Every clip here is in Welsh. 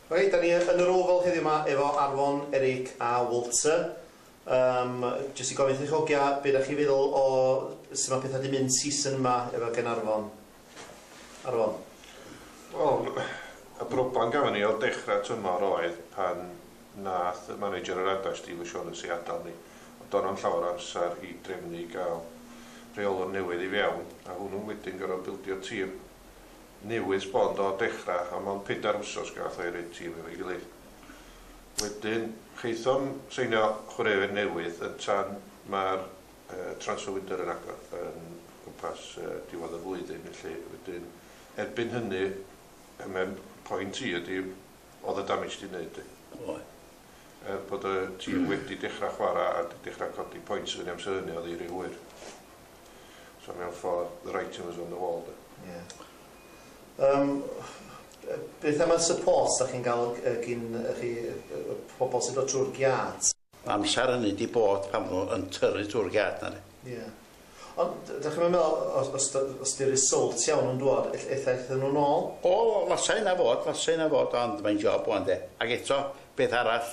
Reit, dan ni yn yr Oval heddiw yma efo Arfon, Eric a Walter. Um, jyst i gofyn chi chogia, be da chi feddwl o sut mae pethau di mynd season yma efo gen Arfon? Arfon? Wel, y broblem gafon ni o dechrau tymor oedd pan nath y manager yr adau Steve O'Shaughnessy adael ni. Ond do'n am llawer amser i drefnu i gael rheolwr newydd i fewn a hwnnw wedyn gorfod bildio tîm. newid sbon o dechra a mond pedair wsos gath o'i roi tîm efo'i gilydd. Wedyn chaethom seinio chwaraewyr newydd yn tan ma'r transfer window yn agor yn gwmpas diwedd y flwyddyn felly wedyn erbyn hynny y mem point i ydi odd y damage di neud di? Oedd. Er bod y tîm wedi dechra chwara a di dechra codi points fyny amser hynny odd i ry hwyr. So mewn ffordd, the writing was on the wall de. Ie. Yym beth am y support dach chi'n ga'l yy gin y rhei yy y pobol sy'n dod trw'r giât? Amser hynny 'di bod pan o'n n'w yn tyrru trw'r giât 'na de. Ie. Ond d- dach chi'm yn me'wl os os dy- os 'di'r result iawn yn dŵad ell- ella ethon n'w nôl? O fasai hynna fod fasai hynna fod ond mae'n job ŵan de. Ag eto peth arall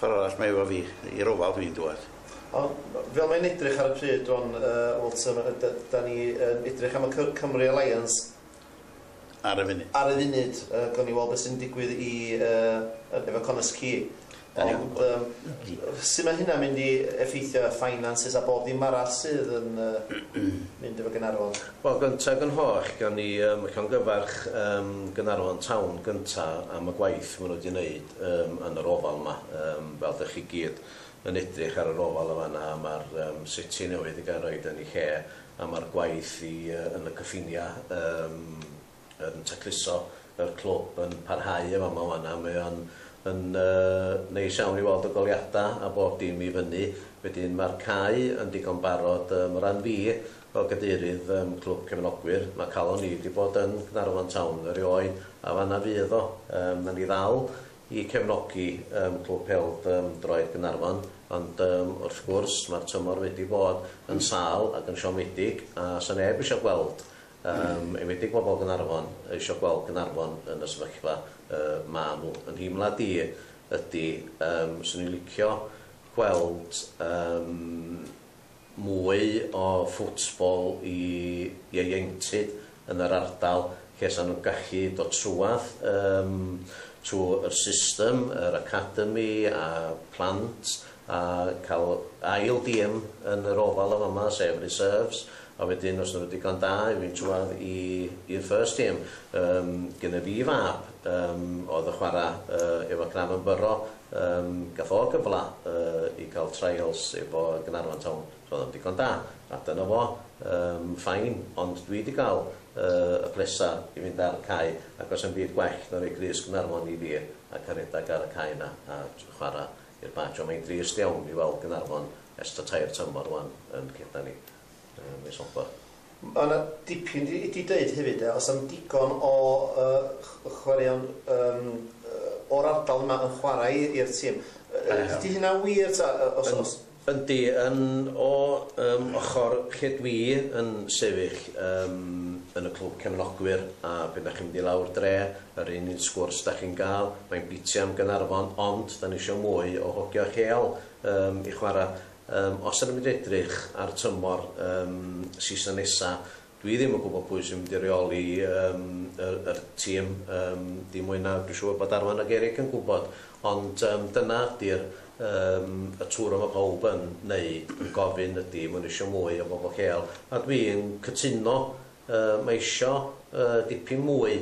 Ffor arall mae efo fi. I'r ofal dwi'n dŵad. Ond fel mae'n edrych ar y pryd rwan yy Walter yy d- 'dan ni yn edrych am y Cy- Cymru Alliance ar y funud ar y funud yy gawn ni weld be' sy'n digwydd i yy yy efo Connah's Quay ond yym su' ma' hynna'n mynd i effeithio y finances a bob dim arall sydd yn yy mynd efo Gaernarfon? Wel gynta ag yn holl gawn ni yym llongyfarch yym Gaernarfon town gynta am y gwaith ma' nw 'di neud. yym yn yr ofal ma yym fel dych chi gyd yn edrych ar yr ofal yn fanna a ma'r yym seti newydd i gael roid yn i lle a ma'r gwaith i yy yn y cyffinia yym yn tacluso yr clwb yn parhau yn fama wana mae o'n yn yy neis iawn i weld y goliada a bob dim i fyny wedyn ma'r cae yn digon barod yym o ran fi Fel cadeirydd ym Clwb Cefnogwyr, mae calon ni 'di bod yn Gaernarfon Town erioed, a fan'na fydd o. Yym, 'na ni ddal i cefnogi ym Clwb Pêl-d ym Droed Gaernarfon, ond yym, wrth gwrs, mae'r tymor wedi bod yn sâl ac yn siomedig, a 'sa neb isio gweld, yym, enwedig bobl Gaernarfon, isio gweld Gaernarfon yn y sefyllfa yy ma' nhw. Fy nheimlad i ydi, yym, 'swn i'n licio gweld, yym, mwy o football i ieuenctid yn yr ardal lle 'sa nhw'n gallu dod trwadd yym trw yr system yr academi a plant a ca'l ail dîm yn yr ofal yn fama sef reserves a wedyn os 'dyn nhw'n digon da i fynd trwadd i i'r first team. Yym gynna fi fab yym oedd yn chwara yy efo Cranfon Borough Yym gath o gyfla yy i ga'l trials efo Gaernarfon Town, so o'dd o'n ddigon da, a dyna fo, yym fine, ond dwi 'di ga'l yy y blesa i fynd ar y cae, ac do's 'na'm byd gwell na roi Clust Gaernarfon i fi, a ca'l redag ar y cae 'na a j- chwara i'r Badge, ond mae'n drist iawn i weld Gaernarfon ers t'a tair tymor ŵan yn ceda ni. Yy mis Hopper. Ma' 'na dipyn i i deud hefyd de os am digon o yy ch- chwaraeon yym yy o'r ardal yma yn chwarae i i'r tîm yy yy 'di hynna'n wir ta yy os os... Yndi yn o yym ochor lle dwi yn sefyll yym yn y clwb cefnogwyr a pan 'dach chi'n mynd i lawr dre yr un un sgwrs 'dach chi'n ga'l mae'n biti am Gaernarfon ond 'dan ni isio mwy o hogia lleol yym i chwara' Yym, os ydym yn edrych ar y tymor yym season nesa, dwi ddim yn gwybod pwy sy'n mynd i reoli yym y yr tîm yym dim mwy na dwi siŵr bod Arfon ag Eric yn gwybod, ond yym dyna ydy'r yym y twr y ma' pawb yn neud, yn gofyn ydy ma' nhw isio mwy o bobl lleol, a dwi'n cytuno yy ma' isio yy dipyn mwy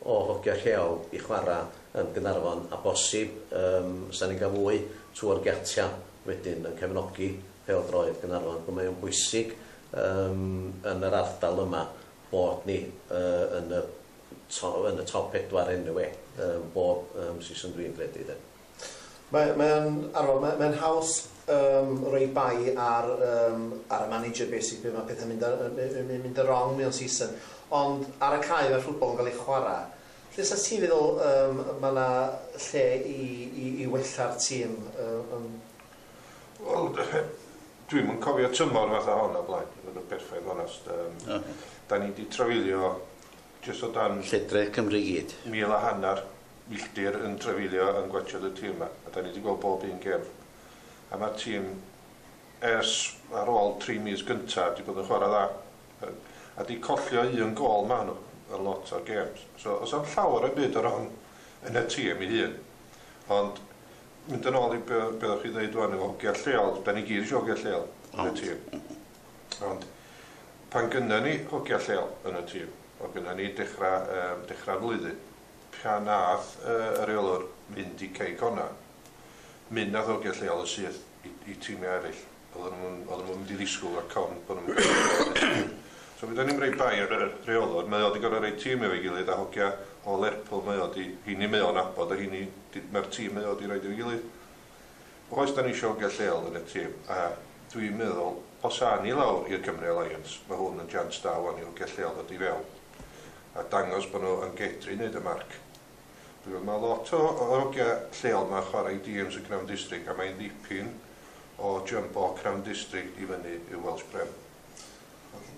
o hogia lleol i chwara yn Gaernarfon a bosib yym os da ni'n ga'l mwy twr giatia wedyn yn cefnogi pêl-droed Gaernarfon ac mae o'n bwysig yym yn yr ardal yma bod ni yy yn y to- yn y top pedwar eniwe yym bob yym season dwi'n credu de. Mae mae o'n anodd mae mae'n haws yym roi bai ar yym ar y manager basically pryd mae pethau'n mynd ar yy yn mynd yn wrong mewn season ond ar y cae mae rhwbwl yn cael ei chwarae Lle 'sa ti'n meddwl yym ma' 'na lle i i i wella'r tîm yy yym? Wel dwi'm yn cofio tymor fatha hon o blaen i fod yn berffaith onast yym Oce. 'dan ni 'di trafeilio jyst o dan... Lledrith Cymru i gyd. ...mil a hannar milltir yn trafeilio yn gwatsiad y tîm 'ma a 'dan ni 'di gweld bob un gêm a ma'r tîm ers ar ôl tri mis gynta 'di bod yn chwara dda. a di collio un gôl ma nhw yn lot o'r gêms so os am llawer o byd o ran yn y tîm i hun ond mynd yn ôl i be oeddech chi ddeud wan efo hogia lleol da ni gyd eisiau hogia lleol yn y tîm ond pan gynna ni hogia lleol yn y tîm o gynna ni dechrau um, dechrau flwyddyn pan nath uh, y reolwr mynd i cei cona mynd nath hogia lleol yn syth i, i tîmiau eraill Oedden nhw'm yn, oedden nhw'm yn mynd i ddisgwyl o'r con bo' nhw'm yn gallu neud y peth. So mi 'da ni'n roi bai ar y rheolwr, mae o 'di gor'o' roi tîm efo'i gilydd a hogia o Lerpwl mae o 'di, rheini mae o'n nabod a rheini d- ma'r tîm mae o 'di roid efo'i gilydd. Oes 'da ni isio hogia lleol yn y tîm a dwi'n meddwl os awn ni lawr i'r Cymru Alliance ma' hwn yn jians da ŵan i hogia lleol ddod i fewn a dangos bo' nhw yn gedru neud y marc. Dwi'n meddwl mae lot o o hogia lleol ma'n chwarae i dîms y Crawn District a mae'n ddipyn o jump o Crawn District i fyny i'w Welsh Prem.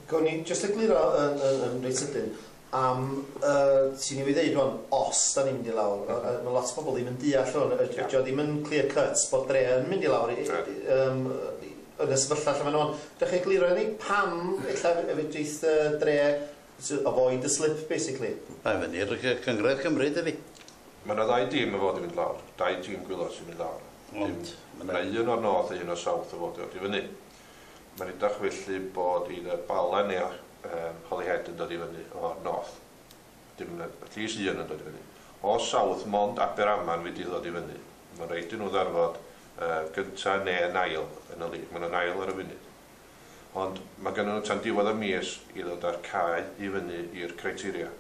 Gawn ni jyst egluro yn yn yn reit sydyn am y ti newydd ddeud rwan os da ni'n mynd i lawr yy yy ma' lot o bobl ddim yn deall hwn yy dydi o ddim yn clear cut bod Dre yn mynd i lawr i yy yym yy yn y sefyllfa lle ma' n'w ŵan. Dach chi egluro i ni pam ella yy fedrith yy Dre To avoid the slip basically. Mae o fyny i'r Cynghrair Cymru dydi? Mae yna ddau dîm yn fod i fynd lawr, dau dîm gwylod sy'n mynd lawr. Ond mae yna un o'r North a un o'r South yn fod i ddod i fyny. Mae'n edrych felly bod either Bala neu Holyhead yn dod i fyny o'r North. Dim yn at least un yn dod i fyny. O'r South mond Aberaman fydd i ddod i fyny. Mae'n rhaid i nhw ddarfod gynta' neu yn ail yn y league. Mae nhw'n ail ar y funud. Ond mae gennyn nhw tan diwedd y mis i ddod â'r cae i fyny i'r criteria.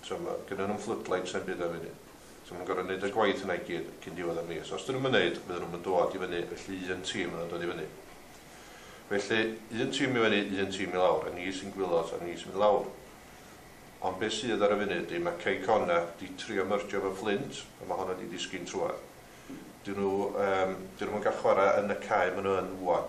So mae gennyn nhw'm floodlights na'm byd am funud. So maen nhw'n gorfod neud y gwaith yna i gyd cyn diwedd y mis. Os 'dyn nhw'm yn neud, fydden nhw'm yn dod i fyny, felly un tîm fydd yn dod i fyny. Felly, un tîm i fyny, un tîm i lawr, a ni sy'n gwylod a ni sy'n mynd lawr. Ond be sydd ar y funud ydi, mae Cei Connah 'di trio myrgio efo Fflint, a mae honno 'di disgyn trwadd. 'Dyn nhw yym 'dyn nhw'm yn gallu chwarae yn y cae maen nhw yn ŵan.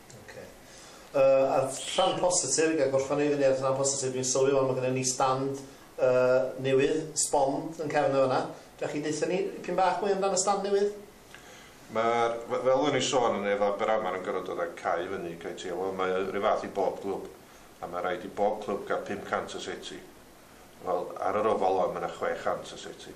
Oce. Yy a rhan positif, ga i gorffan i fyny ar rhan positif, dwi'n sylwi wan ma gynna ni stand yy newydd, sbon yn cefn yn fanna. Dach chi deutha ni dipyn bach mwy amdan y stand newydd? Ma'r f- fel o'n i'n sôn yn efo Aberamain yn gorod dod â cae i fyny, cae teg, wel mae o ry fath i bob clwb a ma raid i bob clwb ga'l 500 o seti. Wel ar yr ofal wan ma na 600 o seti.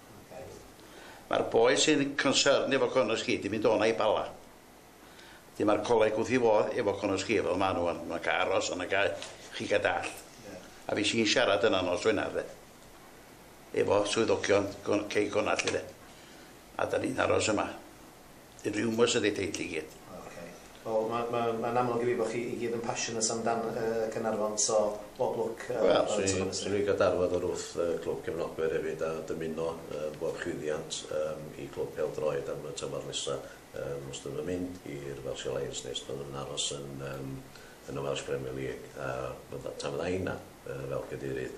Mae'r boi sy'n concerned efo Conor Sgid 'di mynd o 'na i Bala. Wedyn ma'r coleg wrth 'i fodd efo Conor Sgid fel ma' nhw ŵan. Ma'n ca'l aros yna ga'i chi ga' dallt. A fues i'n siarad yna nos Wener 'de efo swyddogion Con- cei Connah 'lly 'de. A 'dan ni'n aros yma. Yn rumours ydi teitl i gyd. O ok. Wel ma ma ma'n amlwg i fi bo chi i gyd yn passionate am dan yy Caernarfon so bob lwc yy Wel swn i swn i'n gadarfod o'r wrth yy clwb cefnogwyr efyd a dymuno yy bob llwyddiant yym i clwb pêl-droed am y tymor nesa yym os dyn nw'n mynd i'r Welsh Alliance ne' os dyn nw'n aros yn yym yn y Welsh Premier League a fydda- tan fydda inna yy fel cadeirydd